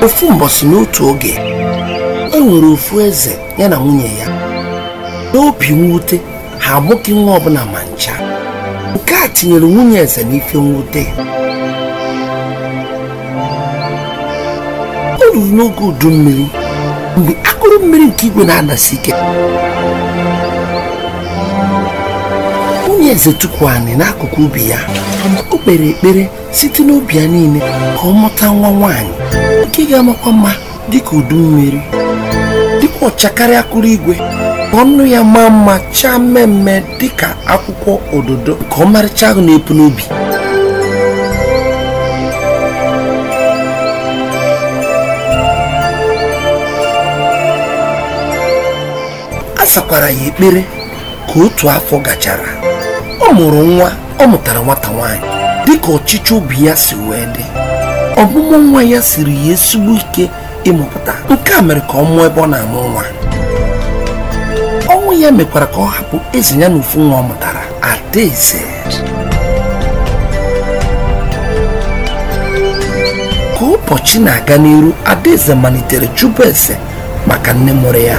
ofu mbọsị n'otu oge e nwere ofu eze ya na nwunye ya n'obi mwute ha amụghị nwa ọbụla ma ncha nke a tinyere nwunye eze n'ife mwute o ruru n'oge udu mmiri mgbe akụrụ mmiri nke igwe na-adasi ike nwunye eze tukwu anị n'akụkụ ubi ya o kpere ekpere site n'obi ya niile ka ọ mụta nwa nwaanyị nke ga-amakwa mma dịka udu mmiri dịkwa ọcha karịa akụrụ igwe ka ọnụ ya maa mma chaa mmee mmee dịka akwụkwọ ododo nke ọmarịcha ahụ na-epu n'ubi a sakwara ya ekpere ka otu afọ gachara ọ mụrụ nwa ọ mụtara nwata nwaanyị dịka ọchịchọ obi ya si wee dị ọmụmụ nwa ya siri ya ezigbo ike ịmụpụta nke a mere ka ọ nwụọ ebe ọ na-amụ nwa ọnwụ ya mekwara ka ọ hapụ eze ya na ofu nwa ọ mụtara adaeze ka ụbọchị na-aga n'iru adaeze malitere jụba eze maka nne mụrụ ya